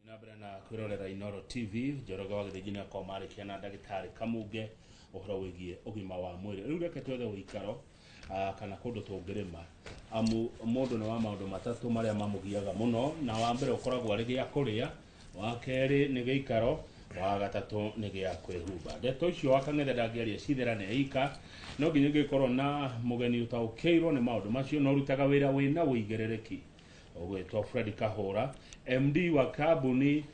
na mbere na kwĩrorera inoro tv njoroge wa gĩthĩnji nĩakorwo marĩkia na ndagĩtarĩ kamunge ũhoro wĩgiĩ ũgima wa mwĩrĩ rĩu reke twethe ũikaro ah, kana kũndũ tũngĩrĩma amu mũndũ nĩ wa maũndũ matatũ marĩa mamũgiaga mũno na wa mbere ũkoragwo arĩ gĩa kũrĩa wa kerĩ nĩ gĩikaro wa gatatũ nĩ gĩa kwĩhumba ndeto icio wa kang'ethe ndangĩaria citherane ika no nginya ũngĩkorwo na mũgeni ũtaũkĩirwo nĩ maũndũ macio na ũrutaga wĩra wĩna ũigĩrĩrĩki ũgwĩtwo fred kahũra md wa kambuni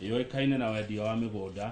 yũĩkaine na wendia wa mĩgũnda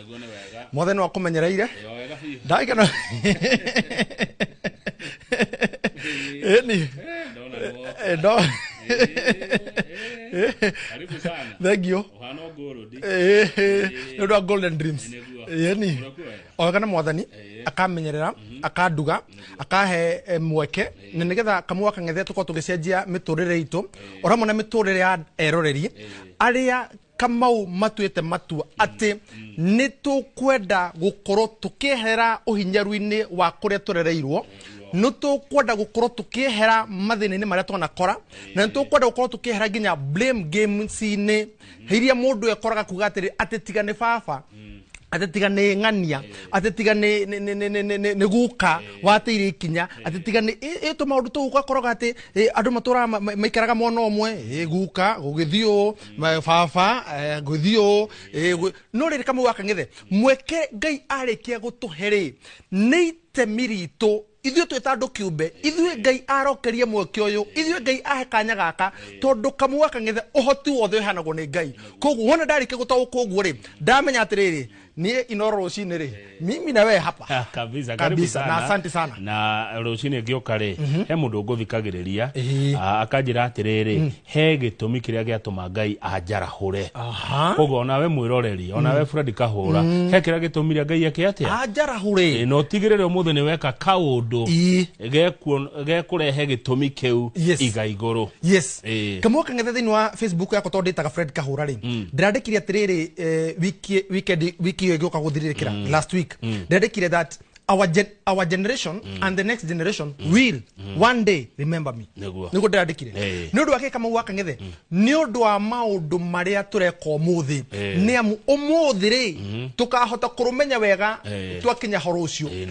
Naguo nĩ wega. mothe nä wakåmenyereire Ĩyo wega biũ. ndagäkena ni Ndona guo. ndo Eh, eh. Karibu sana. thengio Ũhana ngũrũ ndi. nä å ndå wa golden dreams Nĩguo. ä ni Ũrakuwa wega. oga nä mwathani Eh. akamenyerera akanduga akahe eh, mweke na nä getha kamå akang'ethe tå korwo tå gä cenjia mä tå rä re itå o ramwe na mä tå rä re ya eroreri arä a kamau matuĩte matua atĩ nĩ tũkwenda gũkorwo tũkĩehera ũhinyaru-inĩ wa kũrĩa tũrereirwo nĩ tũkwenda gũkorwo tũkĩehera mathĩna-inĩ marĩa twanakora na nĩ tũkwenda gũkorwo tũkĩehera nginya blame games-inĩ iria mũndũ ekoraga kuga atĩrĩ atĩ tiga nĩ baba atĩ tiga nĩ ng'ania atĩ tiga nĩ- nĩ- nĩ- nĩ- nĩ- nĩ- nĩ- nĩ guka wateire ikinya atĩ tiga nĩ ĩ- ĩ tũ maũndũ tũu ũgakoraga atĩ ĩ, andũ matũraga ma- ma- maikaraga mwena ũmwe ĩ, guka gũgĩthiĩ ũũ Ma- baba eh, ngũthiĩ ũũ eh, ngũ- no rĩrĩ kamwe wakang'ethe mweke ngai arĩkia gũtũhe rĩ nĩ itemi ritũ ithuĩ twĩ ta andũ kĩũmbe ithuĩ ngai arokeria mweke ũyũ ithuĩ ngai ahe kanya gaka tondũ kamwe wakang'ethe ũhoti wothe ũheanagwo nĩ ngai koguo wona ndarĩkia gũtaũkwo ũguo rĩ ndamenya atĩrĩrĩ niä ino rå cinä rä mimi na we hapa Ah, kabisa karibu Kabisa, sana. na asante sana. na rũcinĩ ngĩũka rĩ he mũndũ ngũthikagĩrĩria Ĩĩ. ah, akanjĩra atĩrĩrĩ he gĩtũmi kĩrĩa gĩatũma ngai anjarahũre Aha. koguo ona we mwĩroreri ona we burandi kahũra he kĩrĩa gĩtũmire ngai eke atĩa anjarahå rä na ũtigĩrĩre ũmũthĩ nĩ weka kaũndũ Ii. gekũrehe gĩtũmi kĩu Yes. iga igũrũ yes Eh. kamwe kang'ethe thĩinĩ wa facebook yakwa tondũ ndĩtaga fred kahũra rĩ mm. ndĩrandĩkire atĩrĩrĩ eh, wiki- weekend- wiki ĩyo ĩgĩũka gũthirĩrĩkĩra Mm. last week Mm. ndĩrandĩkire that our, gen, our generation and the next generation will one day remember me Nĩguo. nĩguo ndĩrandĩkire Eh. nä å ndå wa kä kamau wa kang'ethe nä å ndå wa maå ndå marä a tå reka å må thä Eh. nä amu å må thä rä tå kahota kå rå menya wega Eh. twakinya horo å cio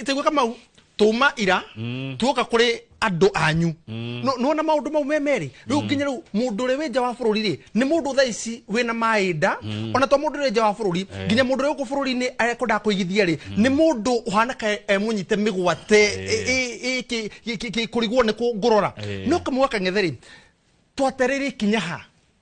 itaigua kamau tuma ira mm. tuoka kuri andu anyu mm. no no na maundu mau memeri riu mm. nginya riu mundu ri winja wa bururi ri ni mundu tha ici wina maida ona to mundu ri nja wa bururi eh. nginya mundu ri ku bururi ni akwenda kuigithia ri ni mundu uhana ka emunyite migwate iki ki kurigwo ni ku ngurora eh. no kamwaka ngetheri twatereri kinyaha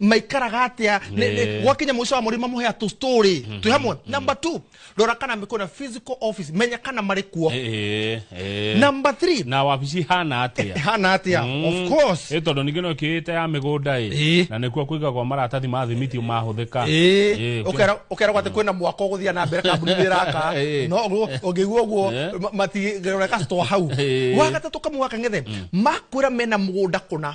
maikaraga atia Nĩ. Nĩ- nĩ- gwakinya mũico wa mũrĩma mũhea tũ story twĩ hamwe number two rora kana mĩkũ na physical office menya kana marĩ kuo Eh, eh. number three na wabici hana atia hana atia of course ä tondå ningä no kä te ya mä gå nda Ĩ. na nä kuo kå igagwo maratathi ma thimiti mahå thä ka Ĩ, ũkera- ũkeragwo atĩ kwĩna mwaka ũgũthiä na mbere kambuni nĩ ĩraka Ĩ. no ũguo- ũngĩigua ũguo Ĩ. ma- matigĩrora customer hau Ĩ. wagatatũ kamwe gaka ng'ethe makwĩra mena mũgũnda kũna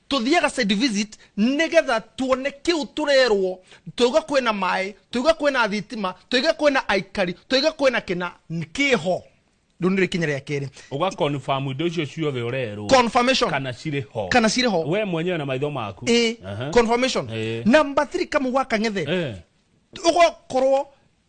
tũthiaga site visit nĩgetha tuone kĩu tũrerwo twauga kwĩna maĩ twauga kwĩna thitima twauga kwĩna aikari twauga kwĩna kĩna kĩho rĩu nĩrĩ ikinya rĩa kerĩ uga confirm indo icio ciothe urerwo confirmation kana cirĩ ho kana cirĩ ho we mwenyewe na maitho maku Ĩĩ, Aha. confirmation Ĩĩ. number 3 kamugwa kang'ethe Eh. ugakorwo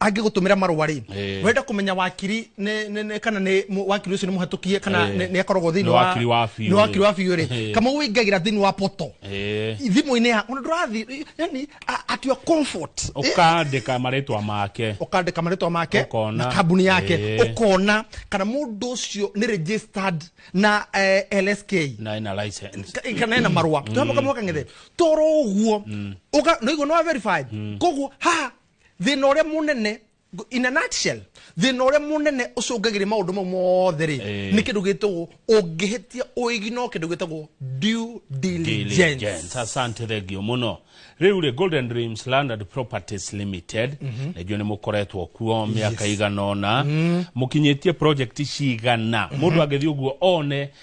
angĩgũtũmĩra marũa rĩ Eh. wenda kũmenya wakiri nĩ- nĩ- nĩ- kana nĩ mũ- wakiri ũcio nĩ mũhatũkie kana Eh. nĩ nĩ akoragwo thĩinĩ Nĩ wa wakiri wa biũ nĩ wakiri rĩ. wa biũ rĩ Eh. kama wĩingagĩra thĩinĩ wa poto Eh. thimũ-inĩ ya ona ndũrathiĩ yani a- at your comfort Eh, ukandika marĩtwa make ũkandĩka marĩtwa make Ũkona. na kambuni yake Eh. ũkona kana mũndũ ũcio nĩ registered na eh, lsk na ina license Ka- kana ena marũa twamoka mwaka ng'ethe toro guo uga no iguo no verified koguo ha thina uria munene ngo- in a nutshell thina uria munene ucungagira maundu mau mothe ri Eh. ni kindu gitagwo ungihitia uigi no kindu gitagwo due diligence diligence asante thengio muno riu ri golden dreams land and properties limited najua ni mukoretwo kuo miaka igana ona mukinyitie project cigana mundu angithi uguo one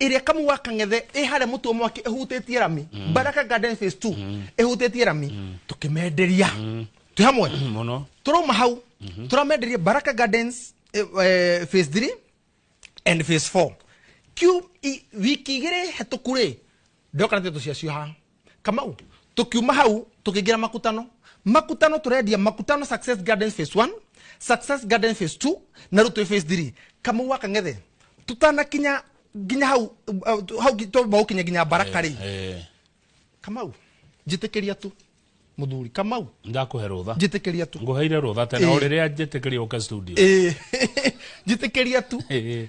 ĩrĩa kamu wa kang'ethe ĩ harĩa mũtu wa mwaki ĩhutĩtie rami mm. baraka garden phase 2 mm. ĩhutĩtie rami mm. tũkĩmenderia mm. twĩ hamwe mm, mũno tũrauma hau mm -hmm. tũramenderia baraka gardens eh, eh, phase 3 and phase 4 kiu wiki igĩrĩ hetũku rĩ ndoka na tũciacio ha kamau tukiuma hau tukiingira makutano makutano turendia makutano success gardens phase 1 success garden phase 2 na rutwe phase 3 kamau wakang'ethe tutanakinya nginya hau uh, hau twamaukinya nginya baraka rĩ Eh, kamau njĩtĩkĩria tu mũthuri kamau ndakũhe rũtha njĩtĩkĩria tu ngũheire rũtha tene o Eh. rĩrĩa njĩtĩkĩria ũke studio ĩĩ njĩtĩkĩria tu Eh,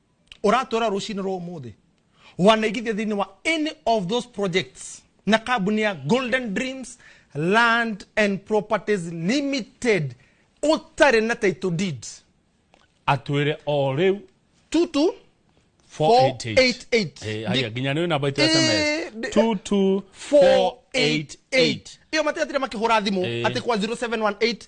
ũratwĩra rũcinĩ rwa ũmũthĩ wanaigithia thĩinĩ wa any of those projects na kambuni ya golden dreams land and properties limited ũtarĩ na title deed atwĩre o rĩu tutu 488 Eh, haya, nginya nĩ namba itũ ya sms Eh, ndi- 22488 iyo matigatire makĩhũra thimũ Eh. atĩ kwa 0718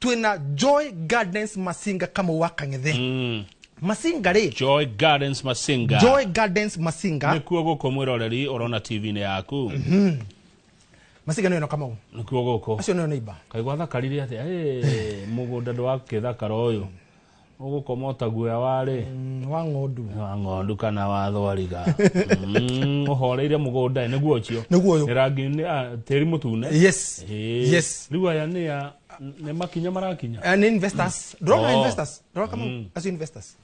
twina joy gardens masinga kama wakang'ethe mm. masinga rĩ joy gardens masinga joy gardens masinga nikuo gũkũ mwĩroreri ũrona tv-inĩ yaku mm-hmm. masinga nĩyo kama u nikuo gũkũ acio nĩyo neiba kaigwa thakarire atĩa mũgũnda ndwakĩthakara ũyũ ũgũkoma ũtaguoya warĩ Mm, wa ng'ondu wa ng'ondu kana wa thwariga Mm, ũhoreire mũgũnda nĩguo ũcio nĩguo ũyũ Nĩ rangi nĩ a, tĩri mũtune yes Ĩĩ. yes rĩu aya nĩ a nĩ makinya marakinya Eh, nĩ investors ndũrona Oh. investors ndũrona kama acio investors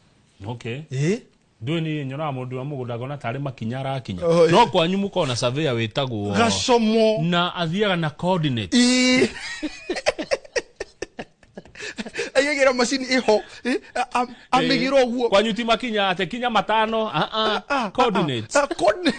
okay ĩĩ ndũĩ nĩ nyonaga mũndũ wa mũgũnda ngona tarĩ makinya arakinya Oh, eh. no kwanyu mũkoragwo na surveyor wĩtagwo gacomo na athiaga na coordinate Ĩĩ. aigagĩra macini ĩho ĩ, a- a- amĩgĩra ũguo kwanyu ti makinya ate kinya matano ah, ah, Ah, ah, coordinates ah, coordinate.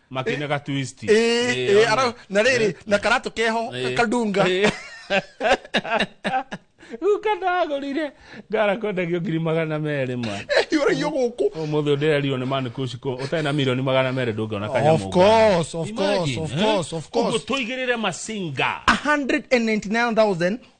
makine ga twist Ĩĩ, Ĩĩ, ĩĩ, ona. ara- na rĩrĩ na karatũ keho Ĩĩ. kadunga Ĩĩ. Rĩu kandagũrire ngara kwendagio ngiri magana merĩ ma hiũragio gũkũ ũmũthĩ ndĩrerirwo nĩ manikucikũ ũtarĩ na mirioni magana merĩ ndũngĩona Of kanyamũ course, of course, of course, of course. ũguo tũigĩrĩre masinga 199,000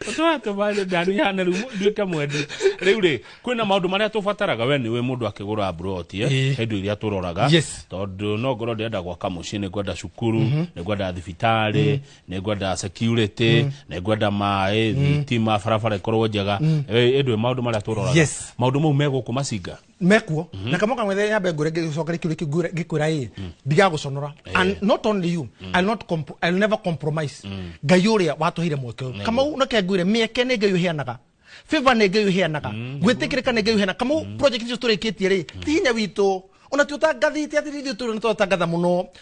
tũratũma ndani ihana rĩu nduĩke mwendi rĩu rĩ kwĩna maũndũ marĩa tũbataraga we nĩwe mũndũ akĩgũra mburoti eh, Ĩĩ. hĩndũ iria tũroraga Yes. tondũ no ngorwo ndĩrenda gwaka mũciĩ nĩ ngwenda cukuru nĩ ngwenda thibitarĩ nĩ ngwenda security nĩ ngwenda maĩ thitima barabara ĩkorwo njega Eh, ĩndũ maũndũ marĩa tũroraga Yes. maũndũ mau megũkũ macinga mekuo mm -hmm. na kamoka mwethe nyambe ngure ngicokere kiuri kingure ngikwira ii mm. ndigaguconora eh. and not only you mm. I'll not comp I'll never compromise mm. ngai uria watuhire mweke uyu kamau nake ngwire mieke ni ngai uheanaga favor ni ngai uheanaga mm. gwitikirika ni ngai uheanaga kamau mm. project icio turikitie ri ti hinya witu ona ti utangathite athiri ithuĩ tũrĩ nĩ twatangatha mũno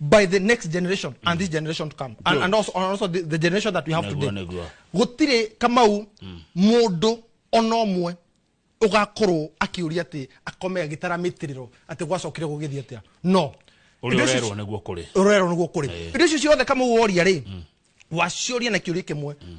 by the next generation mm. and this generation to come and, and also, and also the, the generation that we have today gutire kamau mm. mundu ona umwe ugakorwo akiuria ati akome agitara mitiriro ati gwacokire gugithia atia no urerwo niguo kuri urerwo niguo kuri indo icio ciothe kamau woria ri mm. waciuria na kiuria kimwe mm.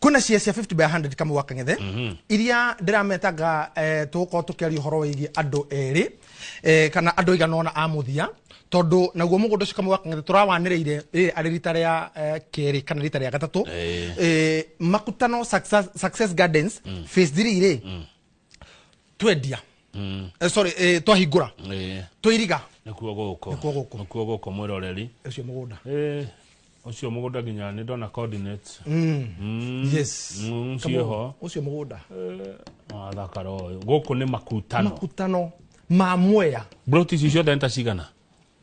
kuna cia cia 50 by 100 kama waka ngethe iria ndirametanga eh, tugukorwo tukiaria horo wigie andu eri eh, kana andu igana ona a muthia tondu naguo mugunda ucio kama waka ngethe turawaniriire riri ari rita ria eh, keri kana rita ria gatatu Eh. eh, makutano success, success gardens phase 3 ri twendia mm. eh, sorry eh, twahingura eh. twairiga nikuo guko nikuo guko nikuo guko mwiroreri ucio mugunda eh ucio mugunda nginya ni ndona coordinates mm. mm. yes mm, ucio ho ucio mugunda eh athakara uyu guku ni makutano makutano ma mwea broti icio ciothe nĩ ta cigana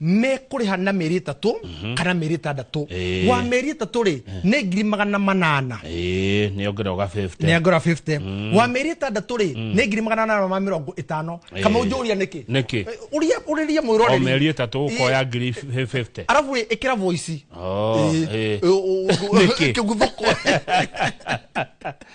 mekũrĩha na mĩeri ĩtatũ mhm. kana mĩeri ĩtandatũ wa mĩeri ĩtatũ rĩ nĩ ngiri magana manana nĩ ongera ũga 50 nĩ ongera 50 mm. wa mĩeri ĩtandatũ rĩ mm. nĩ ngiri magana manana ma mĩrongo ĩtano kama ũnjũria nĩkĩ nĩkĩ ũria ũrĩria mwĩroreri o mĩeri ĩtatũ ũkoya ngiri 50 arabu rĩ ĩkĩra voice oh, nĩkĩ kĩguthũko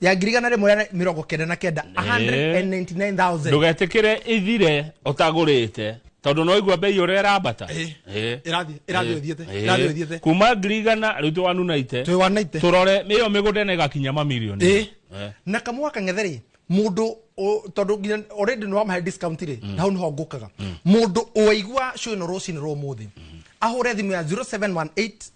ya ngiri igana rĩmwe rĩa mĩrongo kenda na kenda 199000 ndũgetikire ithire ũtagũrĩte tondũ no igua mbei ũrĩa ĩrambata Eh. Eh. Ĩrathiĩ- ĩrathiĩ Eh. ĩthiĩte, Eh. ĩrathiĩ ĩthiĩte. kuma ngiri igana rĩu twanunaite twĩ wanaite tũrore ĩyo mĩgũnda ĩna ĩgakinya mamirioni Ĩ. Eh. na kamwa kang'ethe rĩ mũndũ ũ- tondũ nginya already nĩ wamahe discount rĩ na hau nĩho ngũkaga mũndũ ũaigua show ĩno rũcinĩ rwa ũmũthĩ ahũre thimũ ya 0718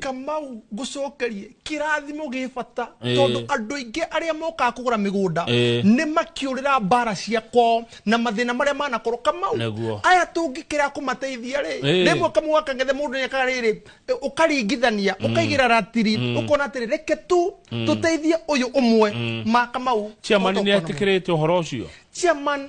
kamau ngucokerie kirathimo gi bata Eh. tondu andu aingi aria mokaga kugura migunda Eh. ni makiurira mbara cia kwao na mathina maria manakorwo kamau Nĩguo. aya tungikira kumateithia ri Eh. rimwe kamau gakangethe mundu niaka riri ukaringithania ukaigira ratiri ukona atiri reke tu tuteithie uyu umwe ma kamau ciamani nä Ũhoro ũkorwo- atä kä rä te å horo å cio chairman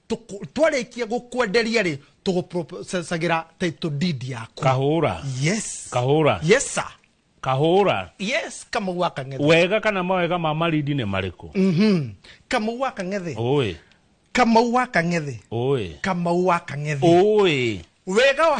Tũkũ- twarĩkia gũkwenderia rĩ tũgũprocessagĩra title deed yaku kahura yes kahura yes sir kahura yes kamau wa kang'ethe wega kana mawega ma marindi nĩ marĩkũ Mhm. kamau wa kang'ethe ũĩ kamau wa kang'ethe ũĩ kamau wa kang'ethe ũĩ wega wa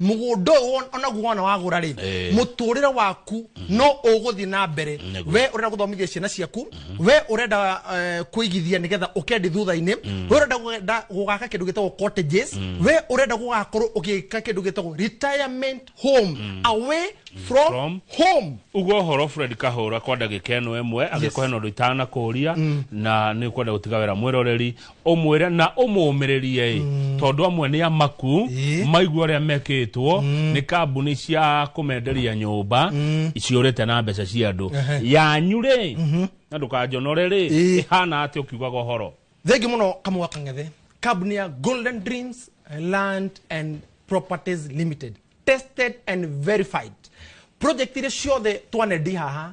mũgũnda ũyũ won- onaguo wona wagũra rĩ Eh. mũtũrĩre waku no ũgũthiĩ na mbere Nĩguo. we ũrenda gũthomithia ciana ciaku we ũrenda eh, kũigithia nĩgetha ũkendi thutha-inĩ we ũrenda gwenda- gũgaka kĩndũ gĩtagwo cottages we ũrenda gũgakorwo ũgĩka kĩndũ gĩtagwo retirement home away from, From. home uguo ũhoro fred kahũra kwa ndagĩka ĩno ĩmwe agĩkũhe na ũndũ itanakũria na nĩ ũkwenda gũtiga wĩra mwĩroreri ũmwĩre na ũmũũmĩrĩrie-ĩ tondũ amwe nĩ amaku Ĩ. maigua ũrĩa mekĩtwo nĩ kambuni cia kũmenderia nyũmba ciũrĩte na mbeca cia andũ yanyu-rĩ na ndũkanjonore-rĩ Ĩ. ĩhana atĩ ũkiugaga ũhoro thengi muno kamũa kang'ethe kambuni ya golden dreams land and properties limited tested and verified project iria ciothe twanendi haha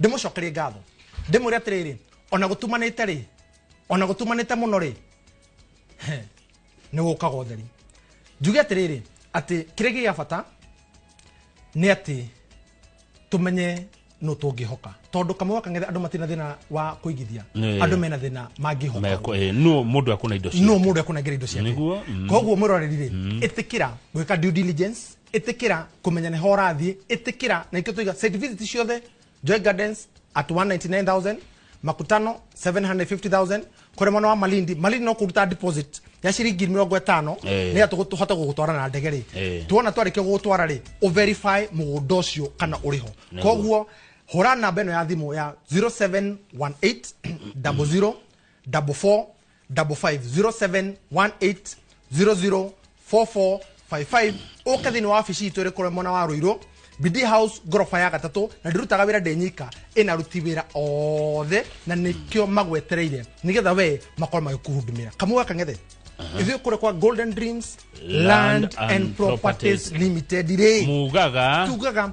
ndĩmũcokerie ngatho ndĩmwĩre atĩrĩrĩ ona gũtumanĩte rĩ ona gũtumanĩte mũno rĩ nĩ gũkaga ũtheri njuge atĩrĩrĩ atĩ kĩrĩa gĩ gĩa bata nĩ atĩ tũmenye no tũngĩhoka tondũ kamwe wakang'ethe andũ matirĩ na thĩna wa kũigithia Nĩ. andũ mena thĩna mangĩhoka Meko- eh, nũ mũndũ akona indo ciake. no mũndũ ekũnengera indo ciake Nĩguo, mm. koguo mwĩroreri rĩ ĩtĩkĩra gwĩka due diligence ĩtĩkĩra kũmenya nĩho ũrathiĩ ĩtĩkĩra na ikio tũiga site visit ciothe joy gardens at 199000 makutano 750000 kũrĩ mwana wa malindi malindi no kũruta deposit ya ciringi mĩrongo ĩtano Eh. nĩgetha tũgũ- tũhote gũgũtwara na ndege rĩ Eh. tuona twarĩkia gũgũtwara rĩ ũverify mũgũnda ũcio kana ũrĩ ho Nĩguo. koguo hũra namba ĩno ya thimũ ya 0718 00 44 double five zero seven one eight zero zero four four five five ũka thĩinĩ wa wabici itũ ĩrĩ kũrĩa mwena wa rũirũ bidi house ngoroba ya gatatũ na ndĩrutaga wĩra ndĩ nyika ĩna ruti wĩra othe na nĩkĩo magwetereire nĩgetha we makorwo magĩkũhundumĩra kamwe gaka ng'ethe ithuĩ kũrĩa kwa golden dreams land and properties limited rĩ mugaga tugaga